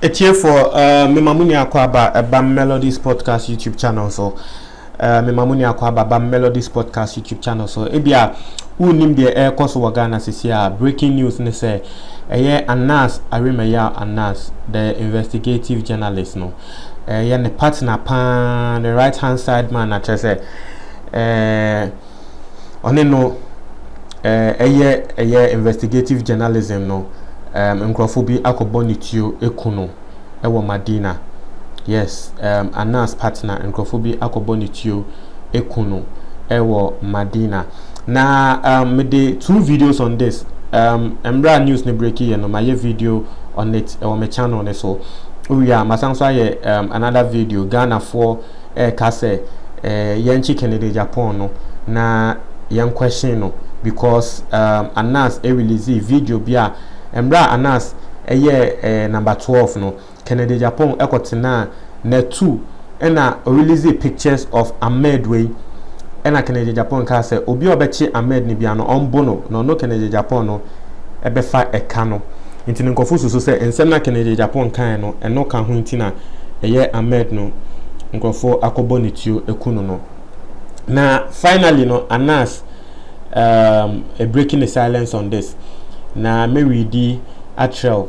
Atiefoɔ, uh, mema mo nya akɔ aba ɛba Melodies Podcast YouTube channel so. Uh, mema mo nya akɔ aba ba Melodies Podcast YouTube channel so. Ebi a wonim deɛ ɛrekɔ so wɔ Ghana sisi a breaking news ne sɛ ɛyɛ Anas Arimaya Anas the investigative journalist no. Ɛyɛ ne partner paa, ne right hand side man na kyerɛ sɛ eh, ɔne no eh, ɛyɛ ɛyɛ investigative journalism no um, nkurɔfo bi akɔbɔ ne tuo eku no ɛwɔ Madina. Yes, um, Anas partner nkurɔfo bi akɔbɔ ne tuo aku no wɔ Madina. Na um, mede two videos on this um, mmerɛ a news no breaki yɛ no mayɛ video on it ɛwɔ me channel no so wowie a masan so ayɛ um, another video Ghanafoɔ ɛreka sɛ eh, yɛnkye Kennedy Agyapong no na yɛn question no because um, Anas ɛrelease video bi a mmerɛ a Anas ɛyɛ eh, number 12 no Kennedy Agyapong kɔtenaa Natu na ɔrelease pictures of Ahmed wei na Kennedy Agyapong kaa sɛ obi a ɔbɛkye Ahmed no biara no ɔmbo no na ɔno Kennedy Agyapong no bɛfa ɛka no nti no nkurɔfo susu sɛ nsɛm no a Kennedy Agyapong kaeɛ no ɛno ka ho nti na ɛyɛ Ahmed no nkurɔfo akɔbɔ no tuo aku no no na finally no Anas um, breaking the silence on this na mɛredi akyerɛw.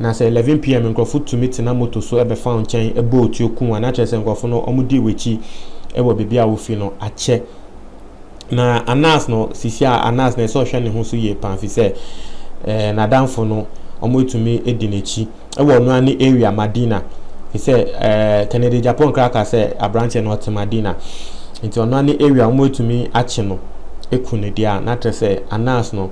Na sɛ 11 PM nkorɔfo tumi tena moto so bɛfa wo nkyɛn bɔ wo tuo ku wo a, na kyerɛ sɛ nkorɔfo no wɔdii w'akyi wɔ baabi a wofi no akyɛ. Na Anas no, sisi a Anas no ɛsɛ sɛ ɔhwɛ ne ho so yie paa efisɛ ɛɛ n'adamfo no wɔatumi adi n'akyi wɔ ɔno ara ne area Madina efisɛ ɛɛ Kennedy Gyapon koraa ka sɛ aberanteɛ no ɔte Madina nti ɔno ara ne area wɔatumi akye no aku no deɛ a na kyerɛ sɛ Anas no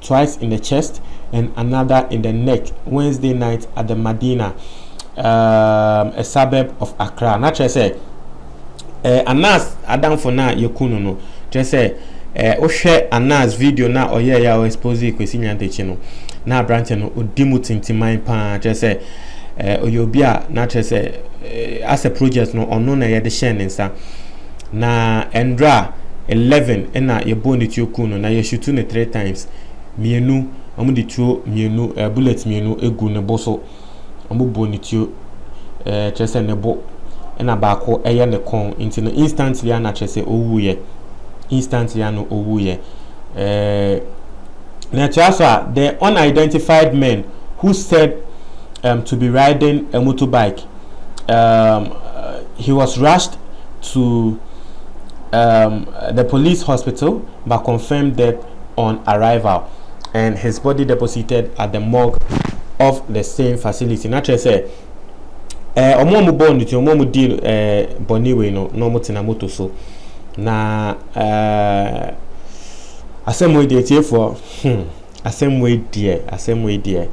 twice in the chest and another in the neck Wednesday night at the Madina, um, a suburb of Accra. Na kyerɛ sɛ, eh, Anas adamfo no a yɛku no no, kyerɛ sɛ, eh, wohwɛ Anas video no a ɔyɛeɛ a ɔexpose Kwesi Nyantakyi no, na aberanteɛ no, ɔdi mu tintiman paa, kyerɛ sɛ, eh, ɔyɛ obi a, na kyerɛ sɛ, eh, asɛ project no, ɔno na yɛde hyɛɛ ne nsa. Na ndra eleven na yɛbɔɔ ne tuo kuu no na yɛ shutu no three times mienu ɔmo de tuo mienu ɛɛ bullet mienu egu ne bo so ɔmo bɔɔ ne tuo ɛɛ kyerɛ sɛ ne bo ɛna baako ɛyɛ ne kɔn nti no instantly ana kyerɛ sɛ owuu yɛ instantly ano owuu yɛ ɛɛ na ɛtoa so a the unidentified men who said um, to be riding a motorbike um, he was rushed to um, the police hospital but confirmed death on arrival and his body deposited at the morgue of the same facility. Na kyerɛ sɛ eh, ɔmo a ɔmo bɔɔ ne ti ɔmo a ɔmo di eh, bɔne wei no na ɔmo tena moto so na eh, asɛm wei deɛ tiefoɔ hmm. Asɛm wei deɛ, asɛm wei deɛ.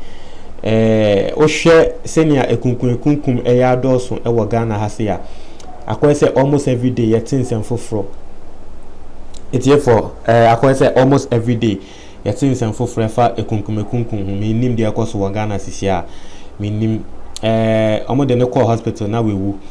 Eh, wohwɛ sɛnea ekunkum ekunkum ɛyɛ adɔɔso wɔ Ghana ha se a, akɔyɛ sɛ almost every day yɛte nsɛm foforɔ. Etiefo, eh, akɔyɛ sɛ almost every day yɛte nsɛm foforɔ ɛfa ekunkum ekunkum ho. Mennim deɛ ɛkɔ so wɔ Ghana sisi a, mennim. Eh, wɔn de no kɔɔ hospital na wawu.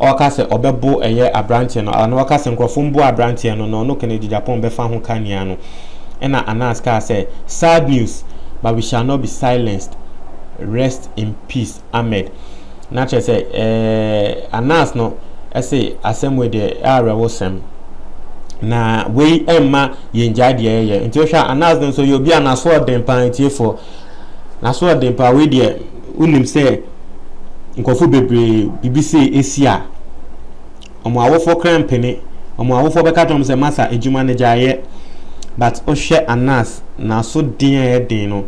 ɔka sɛ ɔbɛbo ɛyɛ abranteɛ no a na ɔka sɛ nkorɔfoɔ mboa abranteɛ no na ɔno Kennedy Agyapong bɛfa ho ka nea no ɛna Anas kaa sɛ sad news but we shall not be silenced rest in peace Ahmed na kyerɛ sɛ ɛɛ Anas no ɛse asɛm wei deɛ ɛawerɛwo sɛm na wei ɛmma yɛn gyae deɛ yɛyɛ nti wohwɛ Anas no nso yɛ obi a n'asoɔden paa ntiefoɔ n'asoɔden paa wei deɛ Wonim sɛ nkurɔfoɔ bebree biribi sei asi a, wɔn awofoɔ koraa mpene. Wɔn awofoɔ bɛka akyerɛ wɔn sɛ, Masa, adwuma no gyae yɛ. But wohwɛ Anas, n'aso den a ɛyɛ den no,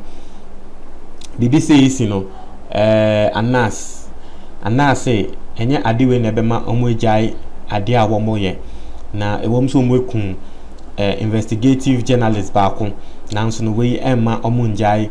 biribi sei resi no, ɛɛ, Anas, Anas se, ɛnyɛ ade wei na ɛbɛma wɔagyae adeɛ a wɔyɛ. Na ɛwom sɛ wɔakum ɛɛ, investigative journalist baako, nanso no wei ɛmma wɔnngyae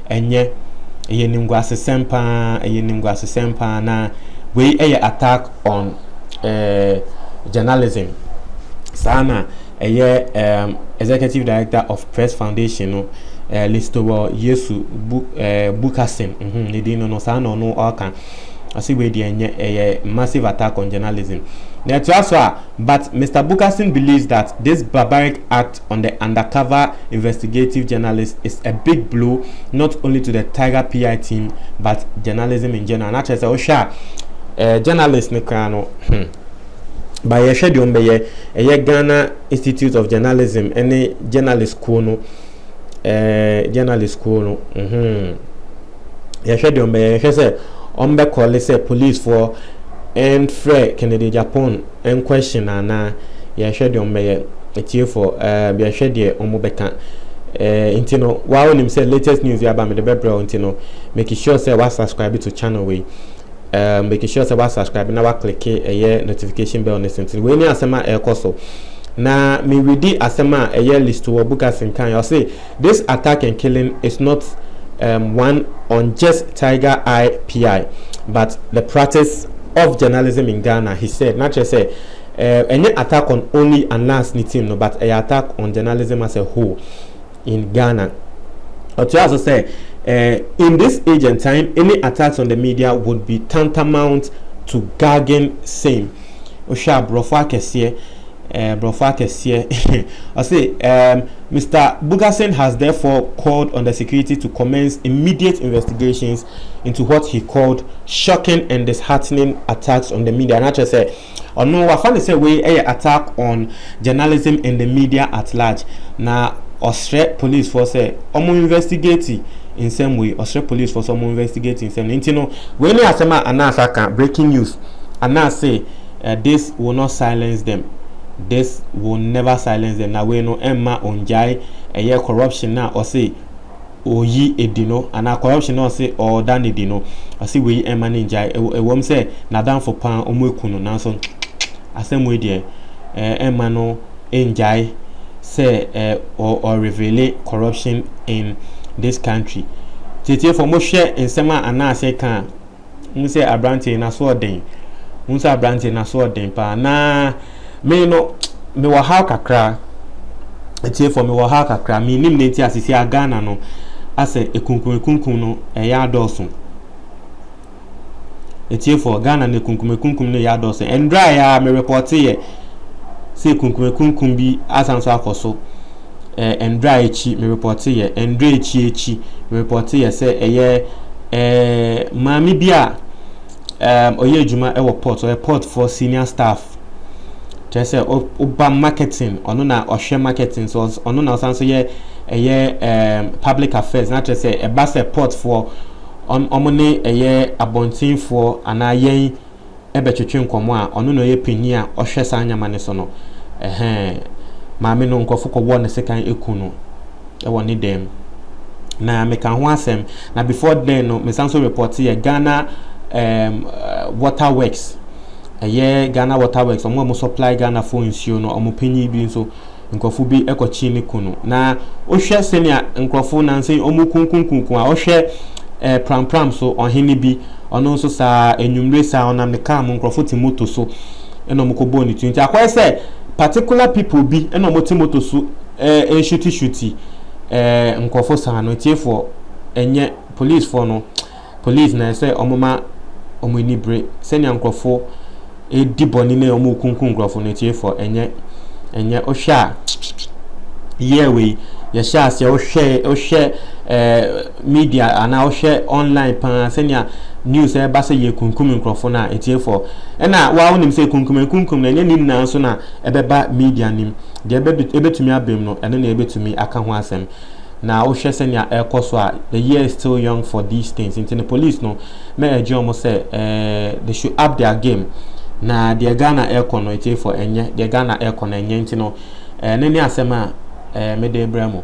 Ɛnyɛ. Ɛyɛ animguasesɛm paa, ɛyɛ animguasesɛm paa, na wei yɛ attack on eh, journalism. Saa na ɛyɛ eh, Executive Director of Press Foundation no, eh, Listowel Yesu Bu, eh, Bukassin, mhm, ne din no no, saa na ɔno ɔka. Ɔse wei deɛ ɛnyɛ, ɛyɛ massive attack on journalism. Na ɛtoa so a, but Mr. Bukassin believes that this barbaric act on the undercover investigative journalist is a big blow not only to the Tiger PI team but journalism in general. Na kyerɛ sɛ wohwɛ a eh, journalist ne koraa no hmm, ba yɛhwɛ deɛ ɔmbɛyɛ ɛyɛ Ghana Institute of Journalism ne journalist kuo no eh, journalist kuo no mm -hmm. yɛhwɛ deɛ ɔmbɛyɛ yɛhwɛ sɛ ɔmbɛkɔle sɛ policefoɔ ɛmfrɛ Kennedy Agyapong Ɛn question anaa yɛhwɛ deɛ ɔmo bɛyɛ atiefoɔ ɛɛm yɛhwɛ deɛ ɔmo bɛka ɛɛ nti no waa wonim sɛ latest news bi aba mede bɛbrɛ wo nti no make sure sɛ wa subscribe to channel wei ɛɛm make sure sɛ wa subscribe na wa click ɛyɛ notification bell no so nti wei ne asɛm a ɛɛkɔ so na me redi asɛm a ɛyɛ Listoor Bukasing kaeɛ ɔse This attack and killing is not um one on just Tiger Eye PI but the practice of journalism in Ghana, he said. Na kyerɛ sɛ, eh, ɛnyɛ attack on only Anas ne team no but ɛyɛ attack on journalism as a whole in Ghana. Ɔtoaa so sɛ, eh, In this age and time, any attacks on the media would be tantamount to gagging same. Wohwɛ a, borɔfo akɛseɛ, eh, borɔfo akɛseɛ, ɔse, um, Mister Bougassène has therefore called on the security to commence immediate investigations into what he called shocking and disheartening attacks on the media na kyerɛ sɛ ɔno wafa no sɛ wei yɛ attack on journalism and the media at large na ɔsrɛ policefoɔ sɛ wɔn investigate nsɛm wei ɔsrɛ policefoɔ sɛ wɔn investigate nsɛm no nti no wei ne asɛm a anaase aka breaking news anaase Eh, this will not silence them, this will never silence them, na wei no ɛmma ɔngyae ɛyɛ corruption no a ɔse ɔyi adi no, anaa corruption no a ɔse ɔda no adi no, ɔse wei ɛmma no ngyae, ɛwom sɛ n'adamfo paa ɔmo aku no, nanso asɛm wei deɛ eh, ɛmma no ngyae sɛ eh, ɔ reveale corruption in this country. Tietifo, mohwɛ nsɛm a Ananse ka a, Wohu sɛ aberanteɛ yi n'asoɔden. Wohu sɛ aberanteɛ n'asoɔden paa. Na me no mewɔ haw kakra. Atiefoɔ mewɔ haw kakra. Menim ne nti a sisi a Ghana no asɛ ekunkun ekunkun no ɛyɛ adɔɔso. Atiefoɔ Ghana no ekunkun ekunkun no ɛyɛ adɔɔso. Ɛndra yɛ a merepɔteeɛ sɛ ekunkun ekunkun bi asan so akɔ so. eh, Ndra akyi, me repɔte yɛ, Ndra akyi akyi, me repɔte yɛ sɛ ɛyɛ eh, maame bi a um, ɔyɛ adwuma wɔ port, ɔyɛ port for senior staff. Kyerɛ sɛ ɔba marketing, ɔno na ɔhwɛ marketing, so ɔno na ɔsan so yɛ ɛyɛ um, public affairs, na kyerɛ sɛ ɛba sɛ port foɔ, ɔmo ne ɛyɛ abɔntenfoɔ anaa yɛn bɛtwetwe nkɔmmɔ a ɔno na ɔyɛ panyin a ɔhwɛ saa nneɛma no so no, ɛhɛɛ, maame no, nkurɔfo kɔbɔɔ no sekan ku no wɔ ne dan mu. Na meka ho asɛm, na before then no, mesan nso report yɛ Ghana um, Water Works, ɛyɛ Ghana Water Works, wɔn a wɔn supply Ghana fo nsuo no, wɔn panyin bi nso. nkurɔfo bi kɔkye ne kunu. Na wohwɛ sɛnea nkurɔfo nnansa yi wɔrekunkunkunkun a, wohwɛ eh, prampram so, ɔhene bi, ɔno nso saa, anwummere saa, ɔnam ne kaa mu, nkurɔfo te moto so na wɔkɔbɔɔ ne tu. Nti akɔyɛ sɛ particular people bi na wɔte moto so eh, nhyutishuti eh, nkurɔfo saa no, atiefoɔ, ɛnyɛ policefoɔ no. Polis na ɛsɛ sɛ wɔma wɔn ani bere sɛnea nkurɔfo redi bɔne ne wɔrekunkum nkurɔfo no atiefoɔ, ɛnyɛ ɛnyɛ wohwɛ a yɛɛ wei yɛhyɛ aseɛ wohwɛ wohwɛ ɛɛ media anaa wohwɛ online paa sɛnea news ɛreba sɛ yɛkunkum nkurɔfo no a atiefoɔ ɛna waa wonim sɛ kunkum nkunkum no ɛnyɛ ne nyinaa nso na ɛbɛba media nim deɛ ɛbɛtumi abam no ɛno na ɛbɛtumi aka ho asɛm Na wohwɛ sɛnea ɛrekɔ so a, the year is still young for these things. Nti no police no mɛ ɛgye wɔn sɛ eh, they should up their game. Na deɛ Ghana ɛrekɔ no etiefo ɛnyɛ deɛ Ghana ɛrekɔ no ɛnyɛ nti no eh, ne ne asɛm a eh, mede brɛ mo.